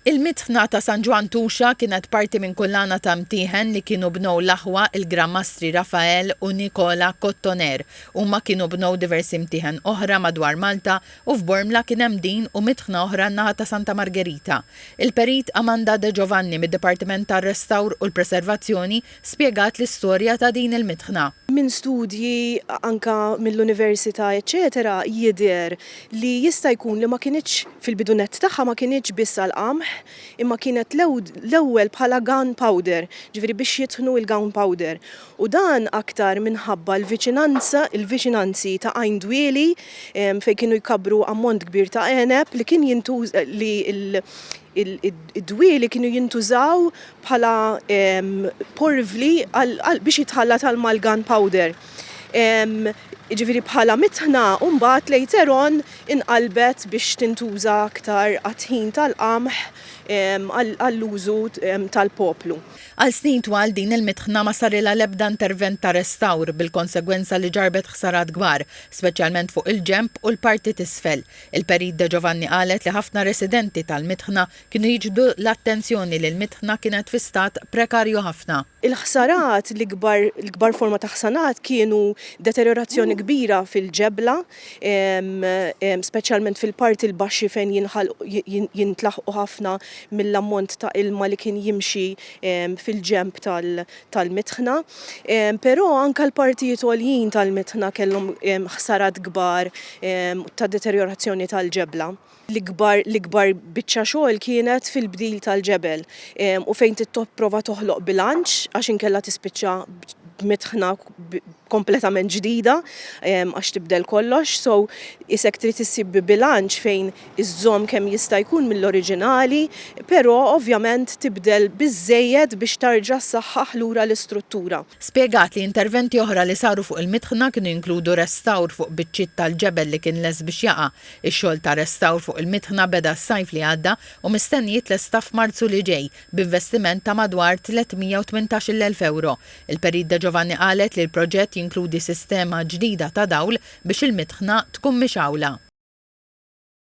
Il-mitħna ta' San Ġwann Tuxa kienet parti minn kullana ta' mtieħen li kienu bnew l-aħwa il-Gran Mastri Rafael u Nicola Cottoner. Huma kienu bnew diversi mtieħen oħra madwar Malta u f'Bormla kien hemm din u mitħna oħra n-naħa ta' Santa Margerita. Il-Perit Amanda De Giovanni mid-Dipartiment tar-Restawr u l-Preservazzjoni spjegat l-istorja ta' din il-mitħna. Minn studji anke mill-università eċċetera jidher li jista' jkun li ma kinitx, fil-bidu nett tagħha ma kinitx biss għall-qamħ imma kienet l-ewwel bħala gun powder, ġifieri biex jitħnu il-gun powder. U dan aktar minħabba l-viċinanza, il-viċinanzi ta' Għajn Dwieli fejn kienu jkabbru ammont kbir ta' għeneb li kien jintuża, li d-dwieli kienu jintużaw bħala porvli biex jitħallat għal mal-gun powder. Jiġifieri bħala mitħna u mbagħad later on inqalbet biex tintuża aktar għat-tħin tal-qamħ għall-użu tal-poplu. Għal snin twal din il-mitħna ma sarilha l-ebda intervent ta' restawr bil-konsegwenza li ġarrbet ħsarat kbar, speċjalment fuq il-ġenb u l-parti t'isfel. Il-Perit Deġovanni qalet li ħafna residenti tal-mitħna Kienu jiġbdu l-attenzjoni li l-mitħna kienet fi stat prekarju ħafna. Il-ħsarat, l-ikbar l-ikbar forma ta' ħsanat kienu deterjorazzjoni kbira fil-ġebla, speċjalment fil-parti l-baxxi fejn jinħalqu jintlaħqu ħafna mill-ammont ta' ilma li kien jimxi fil-ġenb tal tal-mitħna. Però anke l-partijiet għoljin tal-mitħna kellhom ħsarat kbar ta' deterjorazzjoni tal-ġebla. L-ikbar l-ikbar biċċa xogħol kienet fil-bdil tal-ġebel u fejn tipprova toħloq bilanċ għax inkella tispiċċa b'mitħna kompletament ġdida għax tibdel kollox, so isek trid issib bilanċ fejn iżżomm kemm jista' jkun mill-oriġinali però ovvjament tibdel biżżejjed biex tarġa' ssaħħaħ lura l-istruttura. Spjegat li interventi oħra li saru fuq il-mitħna kienu jinkludu restawr fuq biċċiet tal-ġebel li kien lest biex jaqa', Ix-xogħol ta' restawr fuq il-mitħna beda s-sajf li għadda u mistenni jitlesta f'Marzu li ġej b'investiment ta' madwar 318-il elf ewro. Il-Perit De Giovanni qalet li l-proġett jinkludi sistema ġdida ta' dawl biex il-mitħna tkun mixgħula.